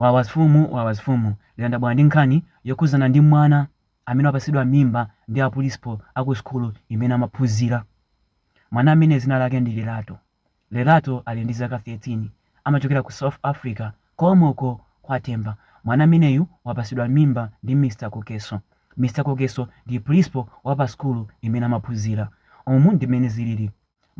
Wawa mfumu wawa mfumu lero ndabwera ndi nkhani yokhuzana ndi mwana amene wapatsidwa mimba ndi a principal a ku sukulu imene amaphuzira. Mwana ameneyu zina lake ndi Lerato. Lerato ali ndi zaka 13 amachokera ku South Africa komwe uko kwa Temba. Mwana ameneyu wapatsidwa mimba ndi Mr Kokeso. Mr Kokeso ndi principal wa pa sukulu imene amaphuzira. Umu ndi mmene ziliri.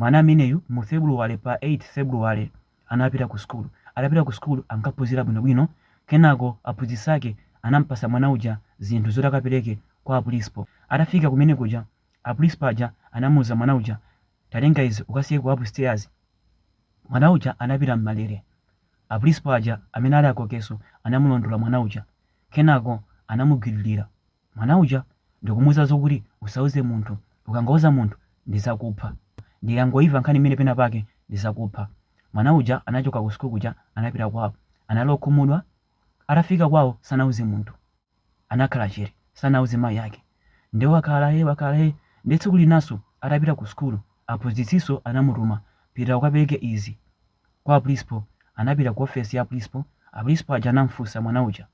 Mwana ameneyu mu February pa 8 February anapita ku school. Atapita ku school ankaphunzira bwino bwino kenako aphunzitsi ake anampasa mwana uja zinthu zoti akapereke kwa aprinsipal. Atafika kumene kuja aprinsipal aja anamuuza mwana uja tatenga izi ukasiye ku upstairs. Mwana uja anapita mmalere. Aprinsipal aja amene ali a Kokeso anamulondola mwana uja kenako anamugwiririra. mwana uja ndikumuuza zokuti usauze munthu ukangauza munthu ndizakupha ndikangoimva nkhani imeneyi pena pake ndizakupha mwana uja anachoka ku school kuja anapita kwao anali okhumudwa atafika kwao sanauze munthu anakhala chete sanauze mayi ake nde wakhalae wakhalae nde tsiku linaso atapita ku school aphunzitsiso anamutuma pita ukapereke izi kwa principal anapita ku office ya principal a principal aja anamfunsa mwana uja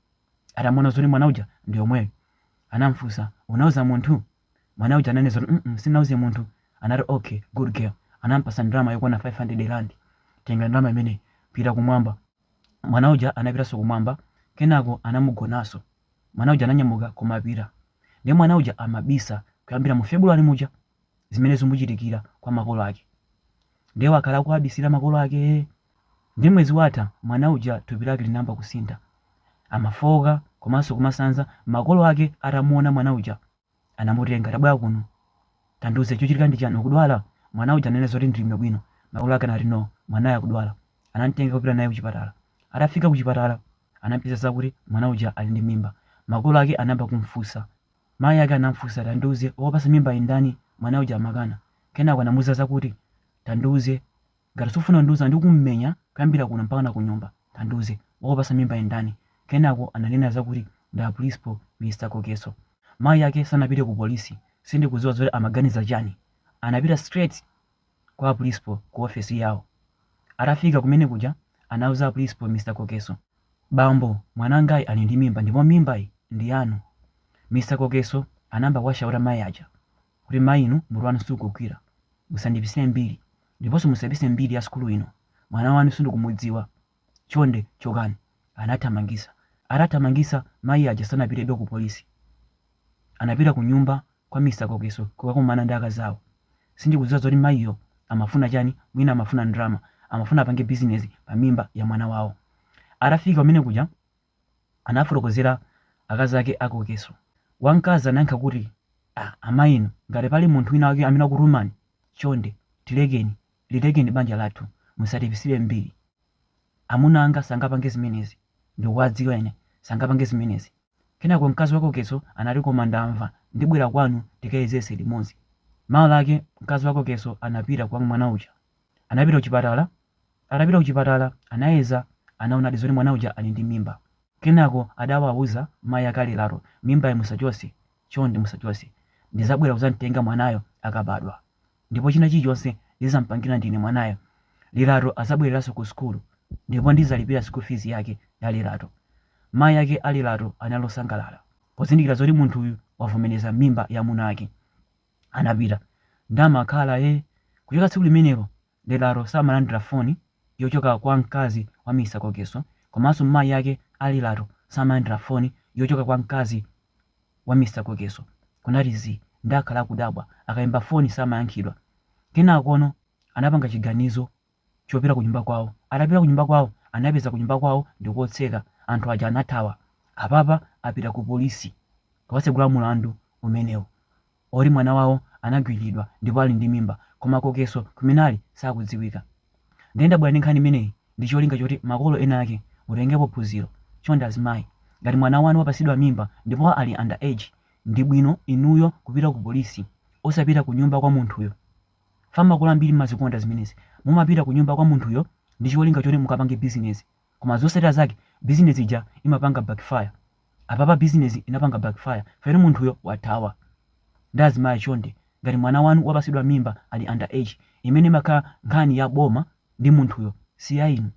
Atamuona zoti mwana uja ndi yemweyo, anamfunsa, unauza munthu? Mwana uja ananena zoti mm sinauze munthu. Anati okay, good girl. Anampasa ndalama yokwana 500 rand. Tenga ndalama imeneyi, pita kumwamba. Mwana uja anapitaso kumwamba, kenako anamugonaso. Mwana uja ananyamuka kumapita. Ndiye mwana uja amabisa kuyambira mu February muja. zimene zamuchitikira kwa makolo ake ndiye wakhala akuwabisira makolo ake nde mwezi watha mwana uja thupi lake linayamba kusintha amafooka komanso kumasanza makolo ake atamuona mwana uja anamutenga tabwera kuno tandiuze chochitika ndi chani ukudwala mwana uja ananena zoti ndili bwino makolo ake anati no mwanayu akudwala anamtenga kupita naye kuchipatala atafika kuchipatala anapeza zakuti mwana uja ali ndi mimba makolo ake anayamba kumfunsa Mayi ake anamufunsa, Tandiuze, wakupatsa mimbayi ndani? Mwana uja amakana. Kenako anamuuza zakuti, Tandiuze, ngati sukufuna kundiuza ndikumenya kuyambira kuno mpakana kunyumba. Tandiuze, wakupatsa mimbayi ndani? Kenako ananena zakuti ndi a principal, Mr Kokeso. Mayi ake sanapite ku police. Sindikudziwa zoti amaganiza chani. Anapita straight kwa a principal ku office yawo. Atafika kumene kuja anauza a principal Mr Kokeso, Bambo, mwanangayi ali ndi mimba ndipo mimbayi ndi yanu. Mr Kokeso anayamba kuwashauta mayi aja kuti mayi inu mutu wanu sukugwira, musandipisire mbiri ndiponso musapise mbiri ya sukulu ino, mwana wanu sindikumudziwa Chonde chokani, anathamangitsa. Atathamangitsa mayi aja sanapitebe ku polisi. Anapita kunyumba kwa Mr Kokeso kukakumana ndi akazawo. Sindikudziwa zoti mayiyo amafuna chani, mwina amafuna ndalama. Amafuna apange bizinezi pa mimba ya mwana wawo. Atafika kumene kuja anafotokozera akazi ake a Kokeso. Wamkazi anayankha kuti, Ah, amayi inu, ngati pali munthu wina wake amene wakutumani, chonde tilekeni. Lilekeni banja lathu, musatipitsire mbiri. Amuna anga sangapange zimenezi, ndikuwadziwa ine, sangapange zimenezi. Kenako mkazi wa Kokeso anati koma ndamva, ndibwera kwanu tikayezese limodzi. Mawa lake mkazi wa Kokeso anapita kwa mwana uja. Anapita kuchipatala, atapita kuchipatala anayeza anaonadi zoti mwana uja ali ndi mimba. Kenako adawauza mayi ake a Lirato, mimbayi musachose, chonde musachose. Ndizabwera kuzamtenga mwanayo akabadwa. ndipo china chilichonse ndizampangila ndine mwanayo Lirato azabwelelaso ku sukulu ndipo ndizalipila school fees yake ya Lirato. Mayi ake a Lirato anali osangalala pozindikila zoti munthuyu wavomeleza mimba ya mwamuna wake. Anapita ndamakhala hee kuchoka tsiku limenelo Lirato samalandila foni yochoka kwa mkazi wa Mr Kokeso komaso mayi ake a Lirato samalandila foni yochoka kwa mkazi wa Mr Kokeso kunati zii nde akhala akudabwa akaimba foni samayankhidwa kenakono anapanga chiganizo chopita kunyumba kwawo atapita kunyumba kwawo anapeza kunyumba kwawo ndi kotseka anthu aja anathawa apapa apita ku police kukatsegula mulandu umenewu. Oti mwana wawo anagwililidwa ndipo ali ndi mimba koma kokeso kumene ali sakudziwika nde ndabwera ndi nkhani imeneyi ndicholinga choti makolo ena ake mutengepo phunziro chonde azimayi ngati mwana wanu wapasidwa mimba ndipo ali under age ndibwino inuyo kupita ku police osapita kunyumba kwa munthuyo chifa makolo ambiri mmazikonda zimenezi mumapita kunyumba kwa munthuyo ndicholinga choti mukapange business koma zotsatira zake business ija imapanga backfire. Apapa business inapanga backfire fa munthuyo wathawa. Nde azimayi chonde ngati mwana wanu wapatsidwa mimba ali under age imene imakhala nkhani ya boma ndi munthuyo si ya inu.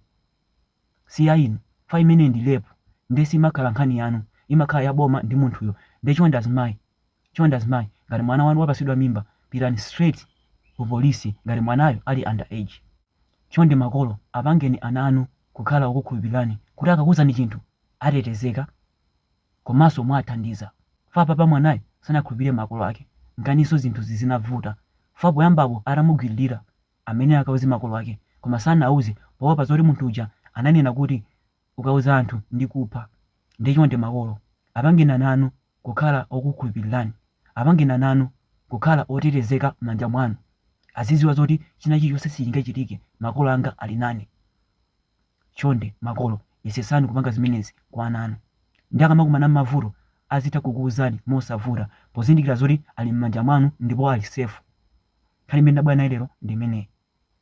Si ya inu chifukwa imeneyi ndi rape nde simakhala nkhani yanu imakhala ya boma ndi munthuyo nde chonde azimayi Chonde azimayi ngati mwana wanu wapasidwa mimba pitani straight ku police ngati mwanayo ali under age. Chonde makolo apangeni ana anu kukhala okukhulupilirani kuti akakuuzani chinthu atetezeka komanso muwathandiza fa apapa mwanayu sanakhulupilire makolo ake nkanaso zinthuzi zinavuta fa poyambapo atamugwililira amenewa akanauza makolo ake koma sanauze poopa zoti munthu uja ananena kuti ukauza anthu ndi kupha nde chonde makolo apangeni ana anu kukhala okukhulupililani apangeni ana anu kukhala otetezeka mmanja mwanu azidziwa zoti china chilichonse sichingachitike makolo anga ali nane chonde makolo yesesani kupanga zimenezi kwa ana anu nde akamakumana mmavuto azitha kukuuzani mosavuta pozindikila zoti ali mmanja mwanu ndipo ali safe nkhani imene ndabwera nayo lero ndi imeneyi.